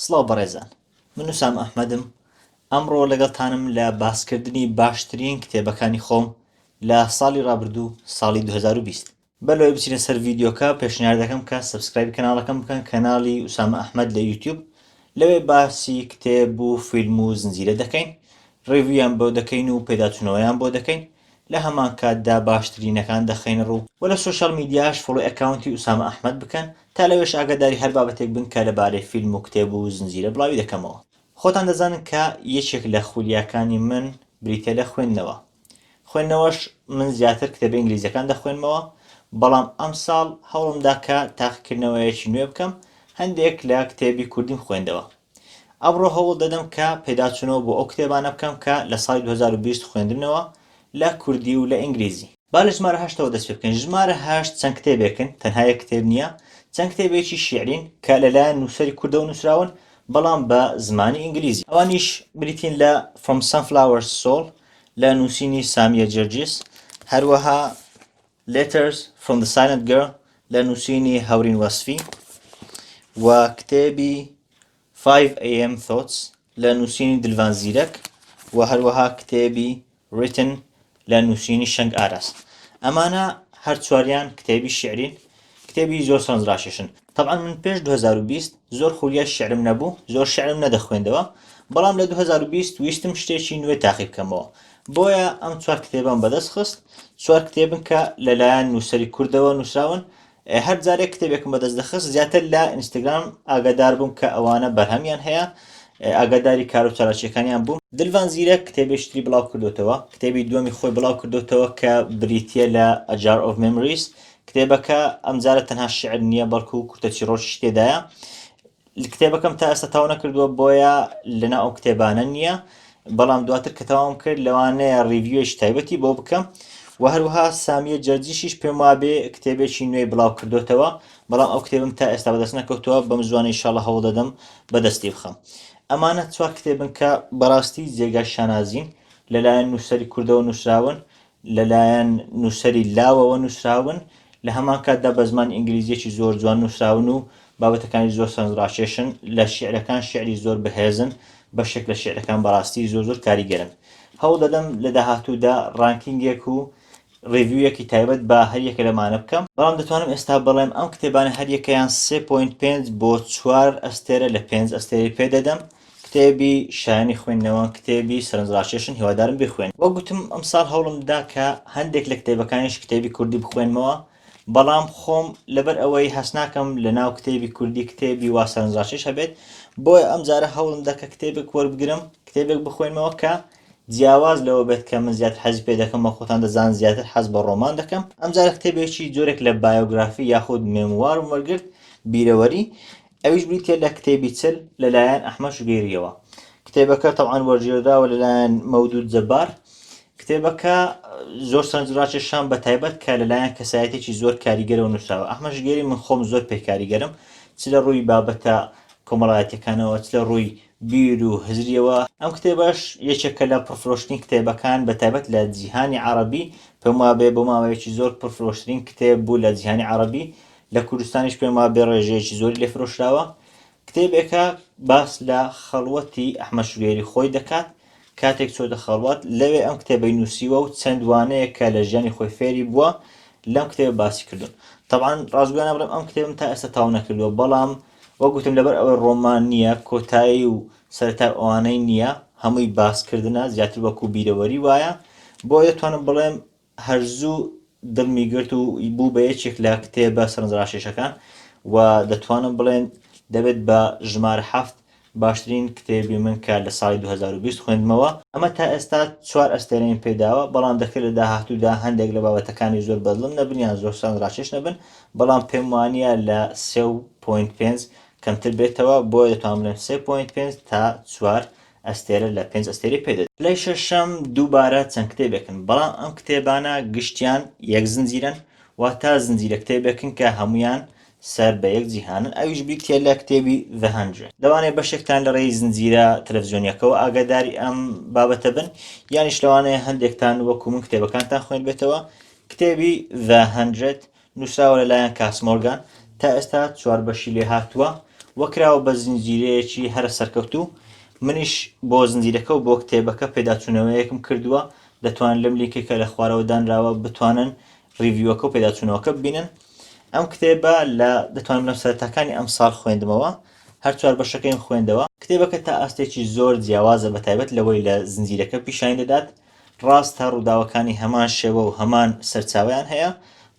سڵاو بەڕێزان من وسام ئەحمەدم ئەمڕۆ لەگەڵتانم لە باسکردنی باشترین کتێبەکانی خۆم لە ساڵی ڕابردوو ساڵی 2020 بەلەوەی بچینە سەر ڤیددیوکە پێشنیار دەکەم کە سبسکرایبی کەناڵەکەم بکەن کەناڵی وسامە ئەحمد لە یوتیوب لەوێ باسی کتێب و فیلم و زنجیرە دەکەین ڕێویان بۆ دەکەین و پێداچنەوەیان بۆ دەکەین لە هەمان کاتدا باشترینەکان دەخەینە ڕوو و لە سۆشیال میدیاش فۆڵۆی ئەکاونتی ئوسامە ئەحمەد بکەن تا لەوێش ئاگاداری هەر بابەتێک بن کە لەبارەی فیلم و کتێب و زنجیرە بڵاوی دەکەمەوە خۆتان دەزانن کە یەکێک لە خولیاکانی من بریتیە لە خوێندنەوە خوێندنەوەش من زیاتر کتێبە ئینگلیزیەکان دەخوێنمەوە بەڵام ئەمساڵ هەوڵمدا کە تاقیکردنەوەیەکی نوێ بکەم هەندێک لە کتێبی کوردیم خوێندەوە ئەمڕۆ هەوڵ دەدەم کە پێداچوونەوە بۆ ئەو کتێبانە بکەم کە لە ساڵی دوو هەزار و بیست خوێندمنەوە لە کوردی و لە ئینگلیزی. با لە ژمارە هەشتەوە دەست پێ بکەین. ژمارە هەشت چەند کتێبێکن، تەنها یەک کتێب نییە، چەند کتێبێکی شیعرین کە لەلایەن نووسەری کوردەوە نووسراون، بەڵام بە زمانی ئینگلیزی. ئەوانیش بریتین لە From Sunflower to Soul لە نووسینی سامییە جەرجیس، هەروەها Letters from the Silent Girl لە نووسینی هەورین وەسفی و کتێبی 5am Thoughts لە نووسینی دلڤان زیرەک و هەروەها کتێبی Written لە نووسینی شەنگ ئاراس ئەمانە هەر چواریان کتێبی شیعرین کتێبی زۆر سەرنج ڕاکێشن تەبعەن من پێش 2020 زۆر خولیای شعرم نەبوو زۆر شعرم نەدەخوێندەوە بەڵام لە 2020 ویستم شتێکی نوێ تاقی بکەمەوە بۆیە ئەم چوار کتێبم بەدەست خست چوار کتێبن کە لەلایەن نووسری کوردەوە نووسراون هەر جارێک کتێبێکم بەدەست دەخست زیاتر لە ئینستاگرام ئاگادار بووم کە ئەوانە بەرهەمیان هەیە ئاگاداری کار و چالاکیەکانیان بووم دلڤان زیرە کتێبێشتری بڵاو کردوتەوە کتێبی دووەمی خۆی بڵاو کردوتەوە کە بریتە لە ئەجار ئۆف ممریس کتێبەکە ئەمجارە تەنها شعر نییە بەڵکو کورتە چیڕۆکیش تێدایە کتێبەکەم تا ئێستا تاو نەکردووە بۆیە لەنا ئەو کتێبانە نییە بەڵام دواتر کە تەواوم کرد لەوانەیە ڕیڤوێش تایبەتی بۆ بکەم و هەروها سامیە جەرجیشیش پێم وابێ کتێبێکی نوێی بڵاو کردوتەوە بەڵام ئەو کتێبم تا ئێستا بەدەست نەکەوتووە بەم زوانە ئیشاڵە هەوڵ دەدەم بەدەستی بخەم ئەمانە چوار کتێبن کە بەڕاستی جێگای شانازین لەلایەن نووسەری کوردەوە نووسراون لەلایەن نووسەری لاوەوە نووسراون، لە هەمان کاتدا بە زمانی ئینگلیزییەکی زۆر جوان نووسراون و بابەتەکانی زۆر سەرنجڕاکێشن، لە شیعرەکان شیعری زۆر بەهێزن، بەشێک لە شیعرەکان بەڕاستی زۆر زۆر کاریگەرن. هەوڵ دەدەم لە داهاتوودا ڕانکینگێک و ڕیڤیویەکی تایبەت بە هەر یەکە لەمانە بکەم، بەڵام دەتوانم ئێستا بڵێم ئەم کتێبانە هەر یەکەیان سێ پۆینت پێنج بۆ چوار ئەستێرە لە پێنج ئەستێرەی پێ دەدەم، کتێبی شایەنی خوێندنەوە کتێبی سەرنجڕاکێشن هیوادارم بخوێن وەک گوتم ئەمساڵ هەوڵم دا کە هەندێک لە کتێبەکانیش کتێبی کوردی بخوێنمەوە بەڵام خۆم لەبەر ئەوەی هەست ناکەم لە ناو کتێبی کوردی کتێبی وا سەرنجڕاکێش هەبێت بۆیە ئەم جارە هەوڵم دا کە کتێبێک وەربگرم کتێبێک بخوێنمەوە کە جیاواز لەوە بێت کە من زیاتر حەزی پێ دەکەم وە خۆتان دەزان زیاتر حەز بە ڕۆمان دەکەم ئەمجارە کتێبێکی جۆرێک لە بایۆگرافی یاخود مێموارم وەرگرت بیرەوەری ئەویش بریتیە لە کتێبی چل لەلایەن ئەحمەد شوگێریەوە کتێبەکە تەوان وەرگێرداوە لەلایەن مەودود جەبار کتێبەکە زۆر سەرنجڕاکێ شان بە تایبەت کە لەلایەن کەسایەتێکی زۆر کاریگەرەوە نووسراوە ئەحمە شگێری من خۆم زۆر پێ کاریگەرم چ لە ڕووی بابەتە کۆمەڵایەتەکانەوە چ لە ڕووی بیر و هزریەوە ئەم کتێبەش یەکێکە لە پرفرۆشتنی کتێبەکان بە تایبەت لە جیهانی عربی پێم وابێ بۆ ماوەیەکی زۆر پرفرۆشترین کتێب بوو لە جیهانی عربی لە کوردستانیش پێم وا بێ ڕێژەیەکی زۆری لێ فرۆشراوە کتێبێکە باس لە خەڵوەتی ئەحمە شوێری خۆی دەکات کاتێک چۆتە خەڵوات لەوێ ئەم کتێبەی نووسیوە و چەند وانەیە کە لە ژیانی خۆی فێری بووە لەم کتێب باسی کردوون طبعاان ڕازگویانە بڵێم ئەم کتێبم تا ئێستا تاو نەکردووە بەڵام وەگوتم لەبەر ئەوەی ڕۆمان نییە کۆتایی و سەرتا ئەوانەی نییە هەمووی باسکردە زیاتر وەکو بیرەوەری وایە بۆ دەتوانم بڵێم هەر زوو دڵمی گرت و بوو بە یەکێک لە کتێبە سەرنجڕاکێشەکان و دەتوانم بڵێن دەبێت بە ژمارە حەفت باشترین کتێبی من کە لە ساڵی دوو هەزار و بیست خوێندمەوە. ئەمە تا ئێستا چوار ئەستێرەیم پێ داوە، بەڵام دەکرێت لە داهاتوودا هەندێک لە بابەتەکانی زۆر بەدڵم نەبن یان زۆر سەرنجڕاکێش نەبن، بەڵام پێم وانییە لە سێ پۆینت پێنج کەمتر بێتەوە، بۆیە دەتوانم بڵێم سێ پۆینت پێنج تا چوار ئەستێرە لە پێنج ئەستێرەی پێ دەدەین. پلەی شەشەم دووبارە چەند کتێبێکن، بەڵام ئەم کتێبانە گشتیان یەک زنجیرەن، واتە زنجیرە کتێبێکن کە هەموویان سەر بە یەک جیهانن، ئەویش بریتییە لە کتێبی The Hundred. لەوانەیە بەشێکتان لە ڕێی زنجیرە تەلەفزیۆنییەکەوە ئاگاداری ئەم بابەتە بن، یانیش لەوانەیە هەندێکتان وەکو من کتێبەکانتان خوێندبێتەوە. کتێبی The Hundred نووسراوە لەلایەن کاس مۆرگان، تا ئێستا چوار بەشی لێ هاتووە و کراوە بە زنجیرەیەکی هەرە سەرکەوتوو، منیش بۆ زنجیرەکە و بۆ کتێبەکە پێداچوونەوەیەکم کردووە، دەتوانن لەم لینکەی کە لە خوارەوە دانراوە بتوانن ڕیڤیوەکە و پێداچوونەوەکە ببینن. ئەم کتێبە لە دەتوانم لە سەرەتاکانی ئەمساڵ خوێندمەوە، هەر چوار بەشەکەیم خوێندەوە، کتێبەکە تا ئاستێکی زۆر جیاوازە بەتایبەت لەوەی لە زنجیرەکە پیشانی دەدات، ڕاستە ڕووداوەکانی هەمان شێوە و هەمان سەرچاویان هەیە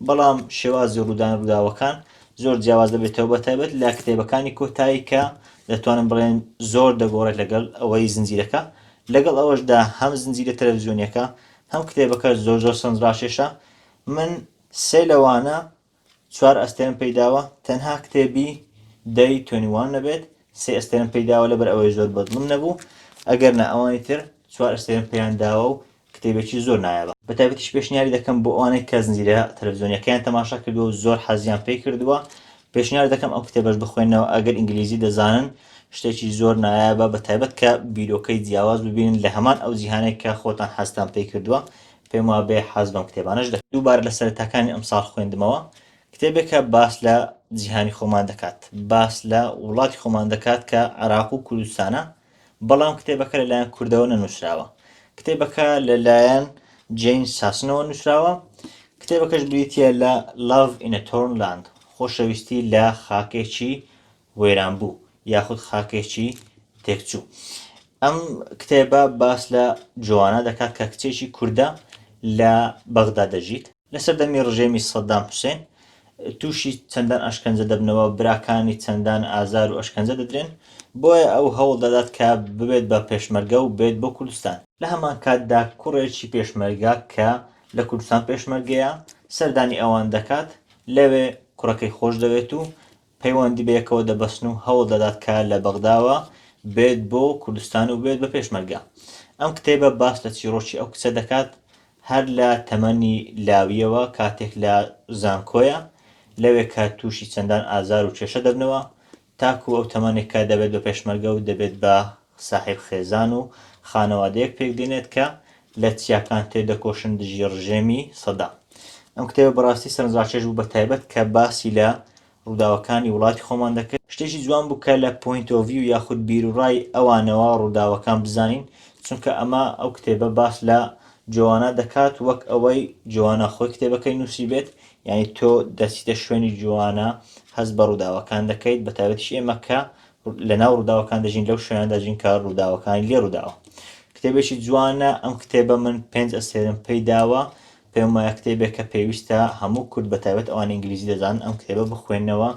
بەڵام شێوازی ڕوودان ڕووداوەکان زۆر جیاواز دەبێتەوە بە تایبەت لە کتێبەکانی کۆتایی کە دەتوانم بڵێن زۆر دەگۆڕێت لەگەڵ ئەوەی زنجیرەکە لەگەڵ ئەوەشدا هەم زنجیرە تەلەڤزیۆنیەکە هەم کتێبەکە زۆر زۆر سەنجڕاکێشە من سێ لەوانە چوار ئەستێرەم پێی داوە تەنها کتێبی دەی تۆنی وان نەبێت سێ ئەستێرم پێی داوە لەبەر ئەوەی زۆر بەدڵم نەبوو ئەگەر نە ئەوانی تر چوار ئەستێرم پێیان داوە و کتێبێکی زۆر نایابە بە تایبەتیش پێشنیاری دەکەم بۆ ئەوانەی کە زنجیرە تەلەڤزیۆنیەکەیان تەماشا کردووە و زۆر حەزیان پێی کردووە پێشنیار دەکەم ئەو کتێبەش بخوێنەوە ئەگەر ئینگلیزی دەزانن شتێکی زۆر نایابە بە تایبەت کە بیرۆکەی جیاواز ببینن لە هەمان ئەو جیهانێک کە خۆتان حەزتان پێی کردووە پێم وابێ حەز بەم کتێبانەش دەکەن دووبارە لە سەرەتاکانی ئەمساڵ خوێندمەوە کتێبێکە باس لە جیهانی خۆمان دەکات باس لە وڵاتی خۆمان دەکات کە عراق و کوردستانە بەڵام کتێبەکە لەلایەن کوردەوە نەنووسراوە کتێبەکە لەلایەن جین ساسنەوە نووسراوە کتێبەکەش بریتە لە لاڤ ئینەتۆرنلاند خۆشەویستی لە خاکێکی وەیران بوو یاخود خاکێکی تێکچوو ئەم کتێبە باس لە جوانە دەکات کە کچێکی کووردە لە بەغدا دەژیت لە سەردەمی ڕژێمی سەددام حوسێن تووشی چەندان ئەشکەنجە دەبنەوە براکانی چەندان ئازار و ئەشکەنجە دەدرێن بۆیە ئەو هەوڵ دەدات کە ببێت بە پێشمەرگە و بێت بۆ کوردستان لە هەمان کاتدا کوڕێکی پێشمەرگە کە لە کوردستان پێشمەرگەیە سەردانی ئەوان دەکات لەوێ کوڕەکەی خۆش دەوێت و پەیوەندی بەیەکەوە دەبەستن و هەوڵ دەدات کە لە بەغداوە بێت بۆ کوردستان و بێت بە پێشمەرگە. ئەم کتێبە باس لە چیڕۆکی ئەو کچە دەکات هەر لە تەمەنی لاوییەوە کاتێک لە زانکۆیە لەوێ کە تووشی چەندان ئازار و کێشە دەبنەوە تاکوو ئەو تەمەنێک کە دەبێت بە پێشمەرگە و دەبێت بە ساحێب خێزان و خانەوادەیەک پێک دێنێت کە لە چیاکان تێدەکۆشن دژی ڕژێمی سەدام ئەم کتێبە بەڕاستی سەرنجڕاکێش بوو بە تایبەت کە باسی لە ڕووداوەکانی وڵاتی خۆمان دەکرد شتێکی جوان بوو کە لە پۆینت ئۆف ڤیو یاخود بیروڕای ئەوانەوە ڕووداوەکان بزانین چونکە ئەمە ئەو کتێبە باس لە جۆوانا دەکات وەک ئەوەی جۆوانا خۆی کتێبەکەی نووسی بێت یعنی تۆ دەچیتە شوێنی جۆوانا هەست بە ڕووداوەکان دەکەیت بە تایبەتیش ئێمە کە لە ناو ڕووداوەکان دەژین لەو شوێنە دەژین کە ڕووداوەکانی لێ ڕووداوە کتێبێکی جوانە ئەم کتێبە من پێنج ئەسێرم پێی داوە پێم وایە کتێبێک کە پێویستە هەموو کورد بە تایبەت ئەوان ئینگلیزی دەزان ئەم کتێبە بخوێنەوە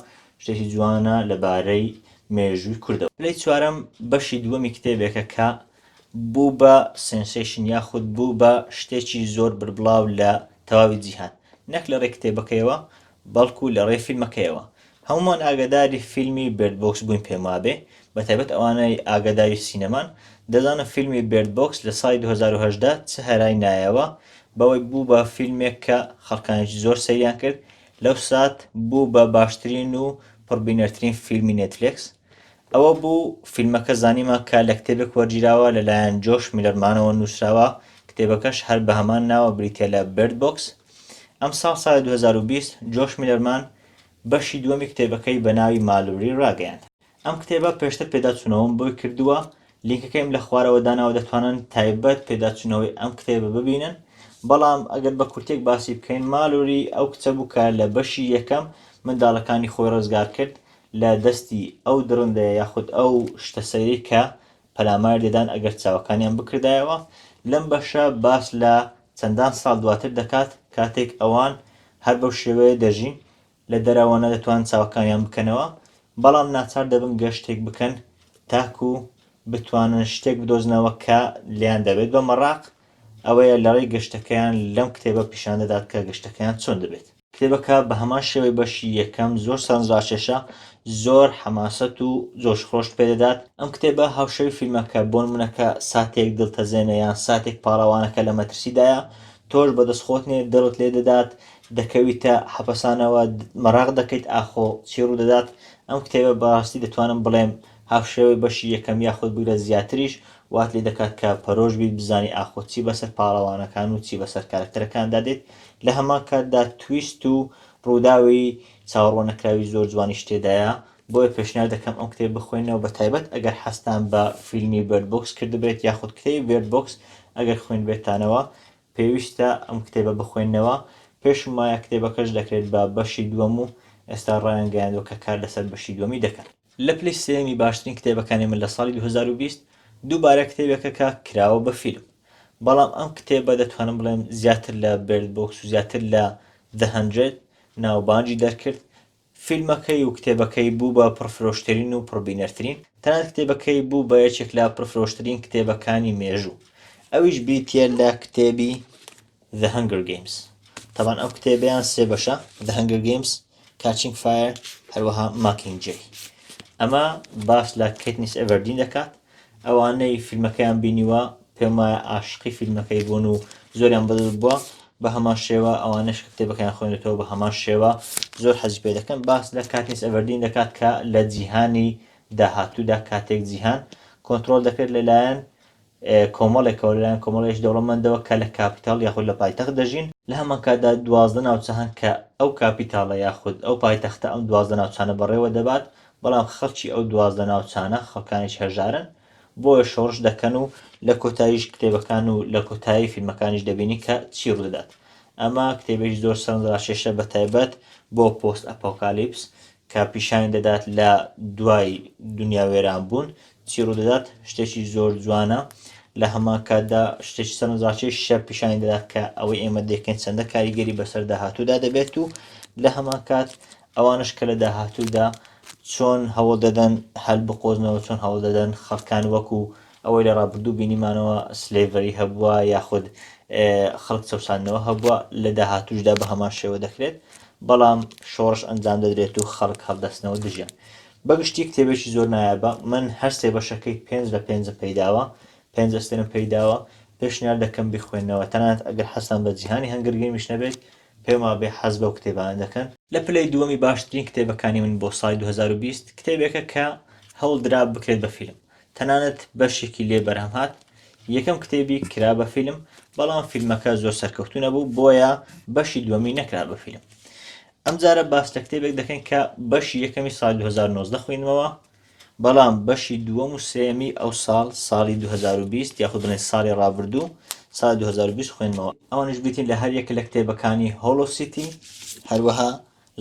شتێکی جوانە لەبارەی مێژووی کوردەوە لەی چوارم بەشی دووەمی کتێبێکە کە بوو بە سنسیشن یاخود بوو بە شتێکی زۆر بربڵاو لە تەواوی جیهان نەک لە ڕێ کتێبەکەیەوە بەڵکو لە ڕێی فیلمەکەیەوە. هەموومان ئاگاداری فیلمی بێرد بۆکس بووین پێم وابێ بە تایبەت ئەوانەی ئاگاداری سینەمان دەزانن فیلمی بێرد بۆکس لە ساڵی دوو هەزار و هەژدە چ هەرای نایەوە بەوەی بوو بە فیلمێک کە خەڵکانێکی زۆر سەیریان کرد لەو سات بوو بە باشترین و پڕبینەرترین فیلمی نێتفلێکس ئەوە بوو فیلمەکە زانیمان کە لە کتێبێک وەرگیراوە لەلایەن جۆش میلەرمانەوە نووسراوە، کتێبەکەش هەر بە هەمان ناوە بریتییە لە Bird Box. ئەمساڵ ساڵی دوو هەزار و بیست جۆش میلەرمان بەشی دووەمی کتێبەکەی بە ناوی مالوری ڕاگەیاند. ئەم کتێبە پێشتر پێداچوونەوەم بۆی کردووە، لینکەکەیم لە خوارەوە داناوە دەتوانن تایبەت پێداچوونەوەی ئەم کتێبە ببینن، بەڵام ئەگەر بە کورتییەک باسی بکەین مالوری ئەو کچە بوو کە لە بەشی یەکەم منداڵەکانی خۆی ڕزگار کرد لە دەستی ئەو دڕندەیە یاخود ئەو شتە سەیرەی کە پەلاماری دەدان ئەگەر چاوەکانیان بکردایەوە، لەم بەشە باس لە چەندان ساڵ دواتر دەکات کاتێک ئەوان هەر بەو شێوەیە دەژین لە دەرەوە نەدەتوانن چاوەکانیان بکەنەوە بەڵام ناچار دەبن گەشتێک بکەن تاکو بتوانن شتێک بدۆزنەوە کە لێیان دەبێت بە مەڕاق ئەوەیە لەڕێی گەشتەکەیان لەم کتێبە پیشان دەدات کە گەشتەکەیان چۆن دەبێت. کتێبەکە بە هەمان شێوەی بەشی یەکەم زۆر سەرنجڕاکێشە زۆر حەماسەت و جۆش خۆشت پێدەدات ئەم کتێبە هاوشەوی فیلمەکە بۆن منەکە ساتێک دڵتەزێنە یان ساتێک پاڵەوانەکە لە مەترسیدایە تۆش بەدەست خۆت نێ دڵت لێ دەدات دەکەویتە حەپەسانەوە مەراق دەکەیت ئاخۆ چی ڕوودەدات ئەم کتێبە بەڕاستی دەتوانم بڵێم هاوشێوەی بەشی یەکەم یاخود بگرە زیاتریش، وات لێ دەکات کە پەرۆش بیت بزانی ئاخۆ چی بەسەر پاڵەوانەکان و چی بەسەر کارەکتەرەکاندا دێت، لە هەمان کاتدا تویست و ڕووداوی چاوەڕواننەکراوی زۆر جوانیش تێدایە، بۆیە پێشنیار دەکەم ئەم کتێبە بخوێننەوە بە تایبەت ئەگەر حەزتان بە فیلمی بێرد بۆکس کردبێت یاخود کتێبی بێرد بۆکس ئەگەر خوێندبێتانەوە پێویستە ئەم کتێبە بخوێننەوە، پێشم وایە کتێبەکەش دەکرێت بە بەشی دووەم و ئێستا ڕایانگەیاندووە کە کار لەسەر بەشی دووەمی دەکەن. لە پلەی سێیەمی باشترین کتێبەکانی من لە ساڵی دوو هەزار و بیست دووبارە کتێبێکە کە کراوە بە فیلم بەڵام ئەم کتێبە دەتوانم بڵێم زیاتر لە بێرد بۆکس و زیاتر لە The Hundred ناوبانگی دەرکرد فیلمەکەی و کتێبەکەی بوو بە پڕفرۆشترین و پڕبینەرترین تەنانەت کتێبەکەی بوو بە یەکێک لە پڕفرۆشترین کتێبەکانی مێژوو ئەویش بریتییە لە کتێبی The Hunger Games تەبان ئەو کتێبیان سێ بەشە The Hunger Games Catching Fire هەروەها Mockingjay ئەمە باس لە کەتنیس ئەڤەردین دەکات ئەوانەی فیلمەکەیان بینیوە پێم وایە ئاشقی فیلمەکەی بوون و زۆریان بەدەست بووە بە هەمان شێوە ئەوانش کتێبەکەیان خوێنێتەوە بە هەمان شێوە زۆر حەزی پێ دەکەن باس لە کاتنیس ئەڤەردین دەکات کە لە جیهانی داهاتوودا کاتێک جیهان کۆنتترۆل دەکرێت لەلایەن کۆمەڵێکەوە، لەلایەن کۆمەڵگەی دەوڵەمەندەوە کە لە کاپیتاڵ یاخود لە پایتەخت دەژین، لە هەمان کاتدا دوازدە ناوچە هەن کە ئەو کاپیتاڵە یاخود ئەو پایتەختە ئەم دوازدە ناوچانە بەڕێوە دەبات، بەڵام خەڵکی ئەو دوازدە ناوچانە خەڵکانێکی هەژارن، بۆیە شۆڕش دەکەن و لە کۆتاییش کتێبەکان و لە کۆتایی فیلمەکانیش دەبینین کە چی ڕوودەدات. ئەمە کتێبێکی زۆر سەرنجڕاکێشە بە تایبەت بۆ پۆست ئەپۆکالیپس کە پیشانی دەدات لە دوای دونیا وێرانبوون چی ڕوودەدات شتێکی زۆر جوانە لە هەمان کاتدا شتێکی سەرنجڕاکێش شەر پیشانی دەدات کە ئەوەی ئێمە دەکەین چەندە کاریگەری بەسەر داهاتوودا دەبێت و لە هەمان کات ئەوانش کە لە داهاتوودا چۆن هەوڵ دەدەن هەل بقۆزنەوە چۆن هەوڵ دەدەن خەڵکان وەکو ئەوەی لە ڕابردوو بینیمانەوە سلێڤەری هەبووە یاخود خەڵک چەساندنەوە هەبووە لە داهاتوشدا بە هەمان شێوە دەکرێت بەڵام شۆڕش ئەنجام دەدرێت و خەڵک هەڵدەستنەوە دژیان بەگشتی کتێبێکی زۆر نایابە من هەر سێ بەشەکەی پێنج لە پێنجم پێیداوە پێنج ئەستێرم پێیداوە پێشنیار دەکەم بیخوێننەوە تەنانەت ئەگەر حەزتان بە جیهانی هەنگر گەیمیش نەبێت پێم وابێ حەز بەو کتێبانە دەکەن. لە پلەی دووەمی باشترین کتێبەکانی من بۆ ساڵی دوو هەزار و بیست کتێبێکە کە هەوڵ درا بکرێت بە فیلم تەنانەت بەشێکی لێ بەرهەم هات یەکەم کتێبی کرا بە فیلم بەڵام فیلمەکە زۆر سەرکەوتوو نەبوو بۆیە بەشی دووەمی نەکرا بە فیلم ئەم جارە باس لە کتێبێک دەکەین کە بەشی یەکەمی ساڵی 2019 خوێنمەوە بەڵام بەشی دووەم و سێمی ئەو ساڵ ساڵی 2020 یاخود بڵێن ساڵی ڕابردوو سال 2020 خوێنمەوە ئەوانش گوتین لە هەر یەک لە کتێبەکانی هۆڵۆ سیتی هەروەها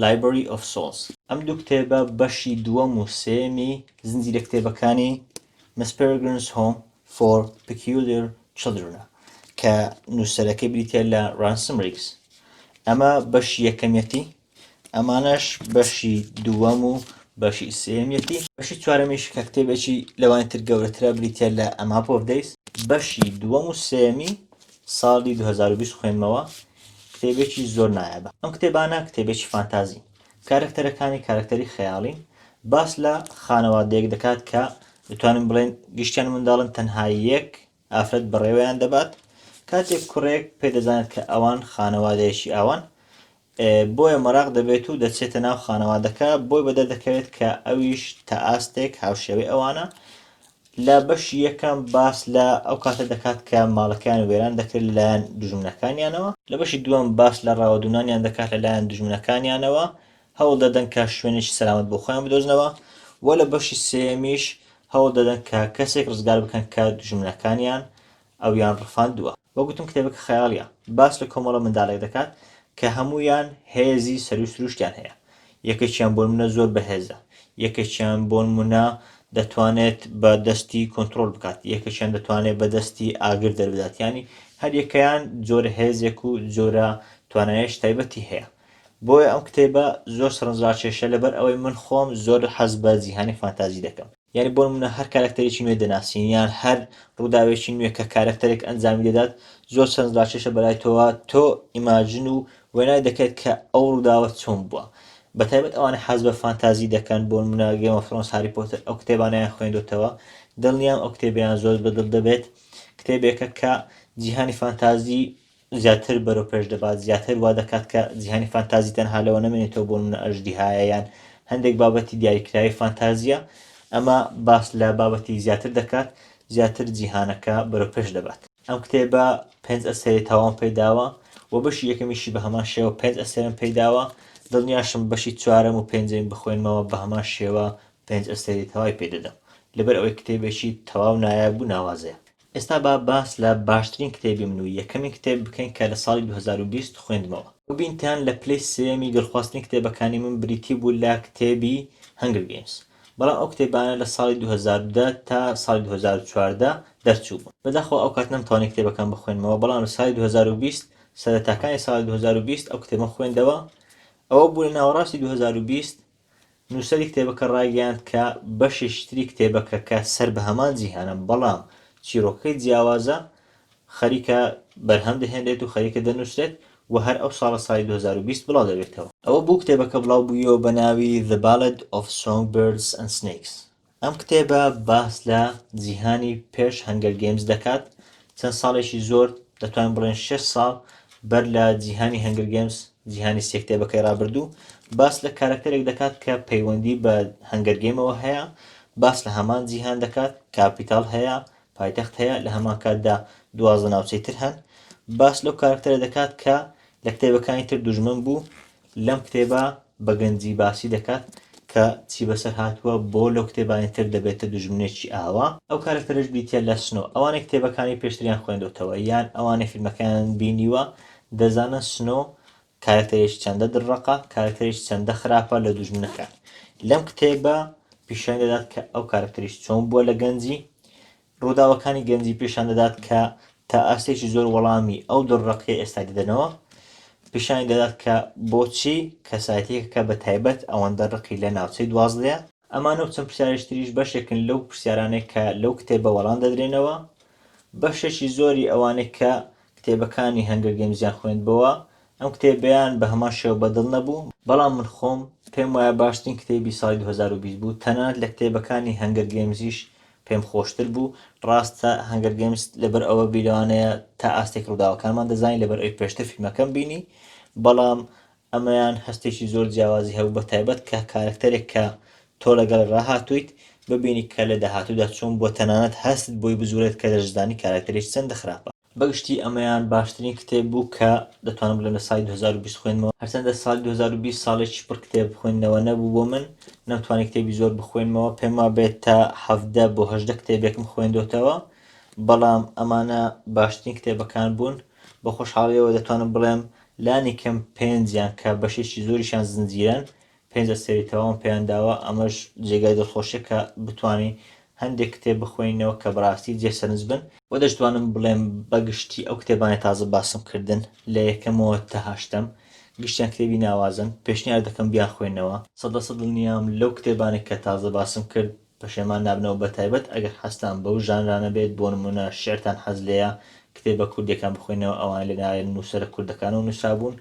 لایبری ئۆف سۆڵز ئەم دوو کتێبە بەشی دووەم و سێمی زنجیرە کتێبەکانی مسپرگرنس هۆم for Peculiar Children ە کە نووسەرەکەی بریتە لە ڕانسم ڕیکس ئەمە بەشی یەکەمیەتی ئەمانەش بەشی دووەم و بەشی سێمیەتی بەشی چوارەمیش کە کتێبێکی لەوانی تر گەورەترە بریتە لە ئەما پۆڤدەیس بەشی دووەم و سێمی ساڵی 2020 خوێنمەوە کتێبێکی زۆر نایابە ئەم کتێبانە کتێبێکی فانتازی کارەکتەرەکانی کارەکتەری خەیاڵین، باس لە خانەوادەیەک دەکات کە دەتوانین بڵێین گشتیان منداڵن تەنها یەک ئافرەت بەڕێوەیان دەبات، کاتێک کوڕێک پێدەزانێت کە ئەوان خانەوادەیەکی ئاوان بۆیە مەراق دەبێت و دەچێتە ناو خانەوادەکە بۆی بەدەردەکەوێت کە ئەویش تا ئاستێک هاوشێوەی ئەوانە، لە بەشی یەکەم باس لە ئەو کاتە دەکات کە ماڵەکەیان وێران دەکرێت لەلایەن دوژمنەکانیانەوە. لە بەشی دووەم باس لە ڕاوەدوونانیان دەکات لەلایەن دوژمنەکانیانەوە، هەوڵ دەدەن کە شوێنێکی سەلامەت بۆ خۆیان بدۆزنەوە و لە بەشی سێیەمیش هەوڵ دەدەن کە کەسێک ڕزگار بکەن کە دوژمنەکانیان ئەویان ڕفاندووە. وەک گوتم کتێبەکە خەیاڵییە، باس لە کۆمەڵە منداڵێک دەکات کە هەموویان هێزی سەروو سرووشتیان هەیە، یەکێکیان بۆنمونە زۆر بەهێزە، یەکێکیان بۆنمونە دەتوانێت بە دەستی کۆنترۆل بکات، یەکێکیان دەتوانێت بە دەستی ئاگر دەربدات، یانی هەر یەکەیان جۆرە هێزێک و جۆرە توانایەش تایبەتی هەیە. بۆیە ئەم کتێبە زۆر سەرنجڕاکێشە لەبەر ئەوەی من خۆم زۆر حەز بە جیهانی فانتازی دەکەم. یانی بۆ نموونە هەر کارەکتەرێکی نوێ دەناسین یان هەر ڕووداوێکی نوێ کە کارەکتەرێک ئەنجامی دەدات زۆر چەند ڕاکێشە بەلای تۆوە تۆ ئیماجن و وێنای دەکەیت کە ئەو ڕووداوە چۆن بووە بە تایبەت ئەوانە حەز بە فانتازی دەکەن بۆ نموونە گێمە فرۆنس هاری پۆتەر ئەو کتێبانیان خوێندوتەوە دڵنیام ئەو کتێبیان زۆر بەدڵ دەبێت کتێبێکە کە جیهانی فانتازی زیاتر بەرەو پێش دەبات، زیاتر وا دەکات کە جیهانی فانتازی تەنها لەوە نەمێنێتەوە بۆ نمونە ئەژدیهایە یان هەندێک بابەتی دیاریکراوی فانتازییە، ئەمە باس لە بابەتی زیاتر دەکات، زیاتر جیهانەکە بەرەو پێش دەبات. ئەم کتێبە پێنج ئەسێری تەواوم پێی داوە و بەشی یەکەمیشی بە هەمان شێوە پێنج ئەسێرم پێی داوە، دڵنیاشم بەشی چوارەم و پێنجەم بخوێنمەوە بە هەمان شێوە پێنج ئەسێری تەوای پێ دەدەم، لەبەر ئەوەی کتێبێکی تەواو نایاب و ناوازەیە. ئێستا با باس لە باشترین کتێبی من و یەکەمین کتێب بکەین کە لە ساڵی دوو هەزار و بیست خوێندمەوە. ببینتان لە پلەی سێیەمی دڵخوازترین کتێبەکانی من بریتی بوو لە کتێبی هەنگر گەیمس، بەڵام ئەو کتێبانە لە ساڵی دوو هەزار و دە تا ساڵی دوو هەزار و چواردە دەرچووبوون. بەداخەوە ئەو کات نەمتوانی کتێبەکان بخوێنمەوە، بەڵام لە ساڵی دوو هەزار و بیست، سەرەتاکانی ساڵی دوو هەزار و بیست ئەو کتێبەم خوێندەوە، ئەوە بوو لە ناوەڕاستی دوو هەزار و بیست نووسەری کتێبەکە ڕایگەیاند کە بەشێکی تری کتێبەکە کە سەر بە هەمان جیهانە بەڵام چیرۆکەکەی جیاوازە خەریکە بەرهەم دەهێنرێت و خەریکە دەنووسرێت و هەر ئەو ساڵە ساڵی 2020 بڵاو دەبێتەوە. ئەوە بوو کتێبەکە بڵاو بوویەوە بە ناوی The Ballad of Songbirds and Snakes ئەم کتێبە باس لە جیهانی پێش هەنگەر گەیمز دەکات چەند ساڵێکی زۆر دەتوان بڵێن شش ساڵ بەر لە جیهانی هەنگەر گەیمز جیهانی سێ کتێبەکەی رابردوو باس لە کارەکتەرێک دەکات کە پەیوەندی بە هەنگەر گەیمەوە هەیە باس لە هەمان جیهان دەکات کاپیتال هەیە پایتەخت هەیە لە هەمان کاتدا دوازدە ناوچەی تر هەن باس لەو کارکتەرە دەکات کە لە کتێبەکانی تر دوژمن بوو لەم کتێبە بە گەنجی باسی دەکات کە چی بەسەر هاتووە بۆ لەو کتێبانی تر دەبێتە دوژمنێکی ئاوا. ئەو کارەکتەرەش بریتیە لە سنۆ. ئەوانەی کتێبەکانی پێشتریان خوێندۆتەوە یان ئەوانەی فیلمەکەیان بینیوە دەزانن سنۆ کارەکتەرێکی چەندە دڕڕەقە، کارەکتەرێکی چەندە خراپە لە دوژمنەکان. لەم کتێبە پیشانی دەدات کە ئەو کارەکتەریش چۆن بووە لە گەنجی، ڕووداوەکانی گەنجی پیشان دەدات کە تا ئاستێکی زۆر وەڵامی ئەو دڕڕەقیە ئێستا دەدەنەوە، پیشانی دەدات کە بۆچی کەسایەتیەکەکە بە تایبەت ئەوەندە ڕقی لە ناوچەی دوازدەیە. ئەمانە و چەند پرسیارێکی تریش بەشێکن لەو پرسیارانەی کە لەو کتێبە وەڵام دەدرێنەوە. بەشێکی زۆری ئەوانەی کە کتێبەکانی هەنگەر گەیمزیان خوێندبۆوە، ئەم کتێبەیان بە هەمان شێوە بە دڵ نەبوو، بەڵام من خۆم پێم وایە باشترین کتێبی ساڵی دوو هەزار و بیست بوو، تەنانەت لە کتێبەکانی هەنگەر گەیمزیش پێم خۆشتر بوو ڕاستە هەنگەر گەیمس لەبەر ئەوە بی لەوانەیە تا ئاستێک ڕووداوەکانمان دەزانی لەبەر ئەوی پێشتر فیلمەکەم بینی بەڵام ئەمەیان هەستێکی زۆر جیاوازی هەبوو بە تایبەت کە کارەکتەرێک کە تۆ لەگەڵ ڕاهاتوویت ببینی کە لە داهاتوودا چۆن بووە تەنانەت هەستت بۆی بزوورێت کە دەشزانی کارەکتەرێکی چەندە خراپە. بەگشتی ئەمەیان باشترین کتێب بوو کە دەتوانم بڵێم لە ساڵی دوو هەزار و بیست خوێندمەوە، هەرچەندە ساڵی دوو هەزار و بیست ساڵێکی پڕ کتێب خوێندنەوە نەبوو بۆ من، نەمتوانی کتێبی زۆر بخوێنمەوە، پێم وابێت تا حەڤدە بۆ هەژدە کتێبێکم خوێندۆتەوە، بەڵام ئەمانە باشترین کتێبەکان بوون، بە خۆشحاڵییەوە دەتوانم بڵێم لانی کەم پێنجیان کە بەشێکی زۆریشیان زنجیرەن پێنج ئەستێرەی تەواوم پێیان داوە، ئەمەش جێگای دڵخۆشیە کە بتوانین هەندێک کتێب بخوێنینەوە کە بەڕاستی جێ سەرنج بن، وە دەشتوانم بڵێم بە گشتی ئەو کتێبانەی تازە باسم کردن لە یەکەمەوە تا هەشتەم گشتیان کتێبی ناوازەن، پێشنیار دەکەم بیانخوێننەوە. سەد لە سەد دڵنیام لەو کتێبانەی کە تازە باسم کرد پەشێمان نابنەوە بەتایبەت ئەگەر حەزتان بەو ژانرانە بێت بۆ نمونە شیعرتان حەز لێیە کتێبە کوردیەکان بخوێنەوە ئەوانە لە لایەن نوسەرە کوردەکانەوە نوسرابوون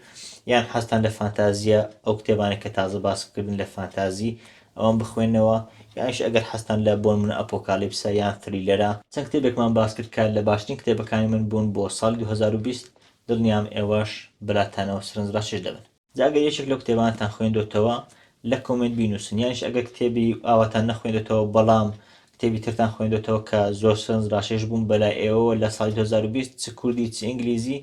یان حەزتان لە فانتازیە ئەو کتێبانە کە تازە باس کردن لە فانتازی ئەوان بخوێنەوە یانش ئەگەر حەزتان لە بۆن من ئەپۆکالیپسە یان فریلەرە چەند کتێبێکمان باس کرد کە لە باشترین کتێبەکانی من بوون بۆ ساڵی 2020 دڵنیام ئێوەش بەلاتانەوە سەرنجڕاکێش دەبن. جا ئەگەر یەکێک لەو کتێبانەتان خوێندۆتەوە لە کۆمێنت بینوسن یانش ئەگەر کتێبی ئاواتان نەخوێندێتەوە بەڵام کتێبی ترتان خوێندێتەوە کە زۆر سنج ڕاشێش بووم بەلای ئێوەوە لە ساڵی 2020 چ کوردی چ ئینگلیزی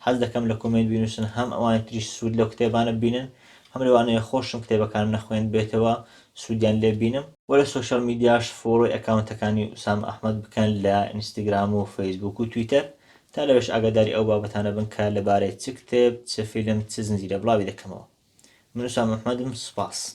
حەز دەکەم لە کۆمێنت بینوسن هەم ئەوانی تریش سوود لەو کتێبانە بینن هەم لەوانەیە خۆشم کتێبەکانم نەخوێند بێتەوە سوودیان لێ بینم وە لە سۆشیال میدیاش فۆڵۆی ئەکاونتەکانی ئوسامە ئەحمەد بکەن لە ئینستاگرام و فەیسبوک و تویتەر تا لەوێش ئاگاداری ئەو بابەتانە بن کە لەبارەی چ کتێب، چ فیلم، چ زنجیرە بڵاوی دەکەمەوە. من ئوسامە محمەدم، سوپاس.